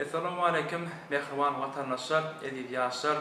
Essalamu aleýkum mähriban watandaşlar, eziz ýaşlar!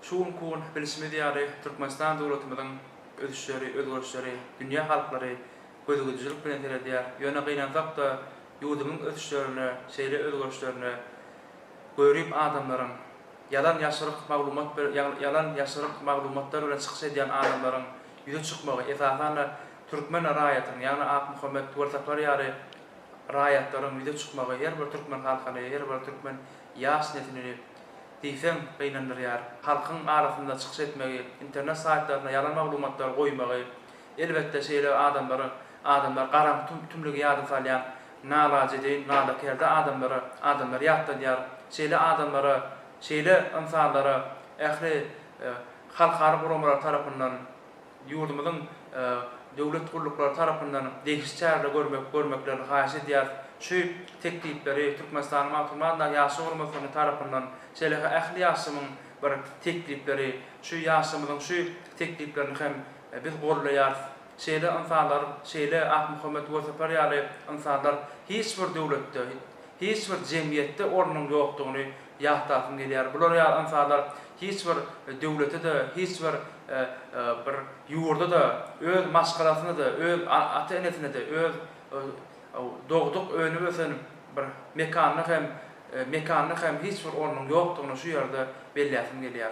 Şu günki gün bilşimiz ýaly Türkmenistan döwletimiziň ösüşleri, özgerişleri dünýä halklary gözügidijilik bilen seredýär. Ýöne gynansak-da ýurdumyň ösüşlerine, şeýle özgerişlerine görip adamlaryň, ýalan ýaşryk maglumat ýalan ýaşryk maglumatlar bilen çykyş edýän adamlaryň ýüze çykmagy, esasan-da türkmen raýatynyň, ýagny Akmuhammet Welsaplar ýaly raýatlaryň ýüze çykmagy her bir türkmen halkyny, her bir türkmen ýaş neslini diýseň gynandyrýar. Halkyň arasynda çykyş etmegi, internet saýtlarynda ýalan maglumatlary goýmagy, elbetde, şeýle adamlary, adamlar garaňky tümlügi ýada salýan nalajedeýin, nalaperde adamlary, adamlary ýatladýar. Şeýle adamlara, şeýle ynsanlara ähli halkara guramalary tarapyndan, Ýurdumyzyň döwlet gulluklary tarapyndan degişli çäreleri görmek görmeklerini haýyş edýäris. Şu teklipleri Türkmenistanyň Magtymguly atyndaky Ýaşlar guramasynyň tarapyndan şeýle-ha ähli ýaşlymyň bir teklipleri, şu ýaşlarymyzyň şu tekliplerini hem biz goldaýarys. Şeýle ynsanlar, şeýle Akmuhammet Wersapar ýaly ynsanlar hiç bir döwletde, hiç bir jemgyýetde ornunyň ýokdugyny Ýatlasym gelýär. Bular ýaly ynsanlar hiç bir döwlete-de, hiç bir bir ýurda-da, öz maşgalasyna-da, öz ata-enesine-de, öz dogduk, önüp-ösen bir mekanyna hem mekanyna hem hiç bir ornuň ýokdugyny şu ýerde belläsim gelýär.